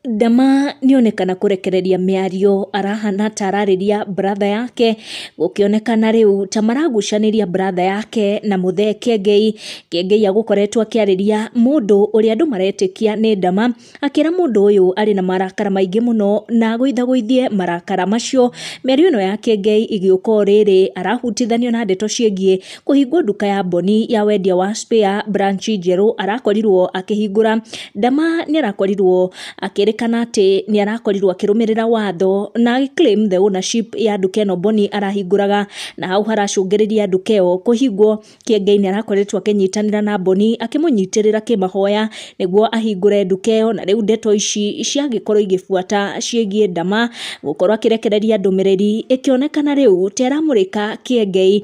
Ndama nĩ onekana kũrekereria mĩario arahana ta ararĩria brother yake, gũkĩonekana rĩu ta maragucanĩria brother yake na mũthee Kiengei. Kiengei agũkoretwo akĩarĩria mũndũ ũrĩa andũ maretĩkia nĩ ndama, akĩra mũndũ ũyũ arĩ na marakara maingĩ mũno na agũithagũithie marakara macio. Mĩario ĩno ya Kiengei ĩgĩũka o rĩrĩ arahutithanio na ndeto ciĩgiĩ... Kũhingwo nduka ya Boni ya wendia wa spare branch njerũ arakorirwo akĩhingũra. Ndama nĩ arakorirwo akĩrĩkana atĩ nĩ arakorirwo akĩrũmĩrĩra watho na agĩ claim the ownership ya nduka ĩno Boni arahingũraga, na hau haracũngĩrĩria nduka ĩyo kũhingwo. Kĩengei nĩ arakoretwo akĩnyitanĩra na Boni akĩmũnyitĩrĩra kĩmahoya nĩguo ahingũre nduka ĩyo, na rĩu ndeto ici ciagĩkorwo igĩbuata ciĩgiĩ Ndama gũkorwo akĩrekereria ndũmĩrĩri, ĩkĩonekana rĩu ta ĩramũrĩka Kĩengei.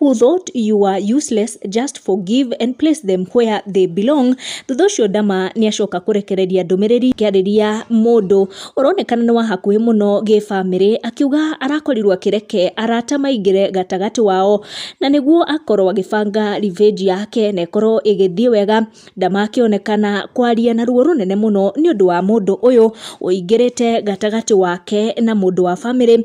who thought you were useless just forgive and place them where they belong thutha ũcio ndama nĩ acoka kũrekereria ndũmĩrĩri kĩarĩria mũndũ ũronekana nĩ wa hakuhĩ mũno gĩbamĩrĩ akiuga arakorirwo akĩreke arata maingĩre gatagatĩ wao na nĩguo akorwo agĩbanga revenge yake na ĩkorwo ĩgĩthiĩ wega ndama akĩonekana kwaria na ruo rũnene mũno nĩ ũndũ wa mũndũ ũyũ ũingĩrĩte gatagatĩ wake na mũndũ wa bamĩrĩ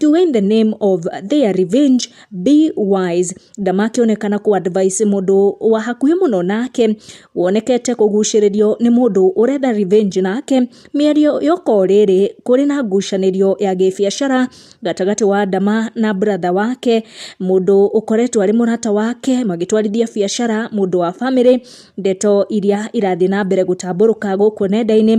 to win the name of their revenge be wise ndamakĩonekana kũ advice mũndũ wa hakuhĩ mũno nake wonekete kũgucĩrĩrio nĩ mũndũ ũrenda revenge nake mĩario yoko rĩrĩ kũrĩ na ngucanĩrio ya gĩbiacara gatagatĩ wa ndama na brother wake mũndũ ũkoretwo arĩ mũrata wake magĩtwarithia biacara mũndũ wa family ndeto iria irathiĩ na mbere gũtambũrũka gũkũ nenda-inĩ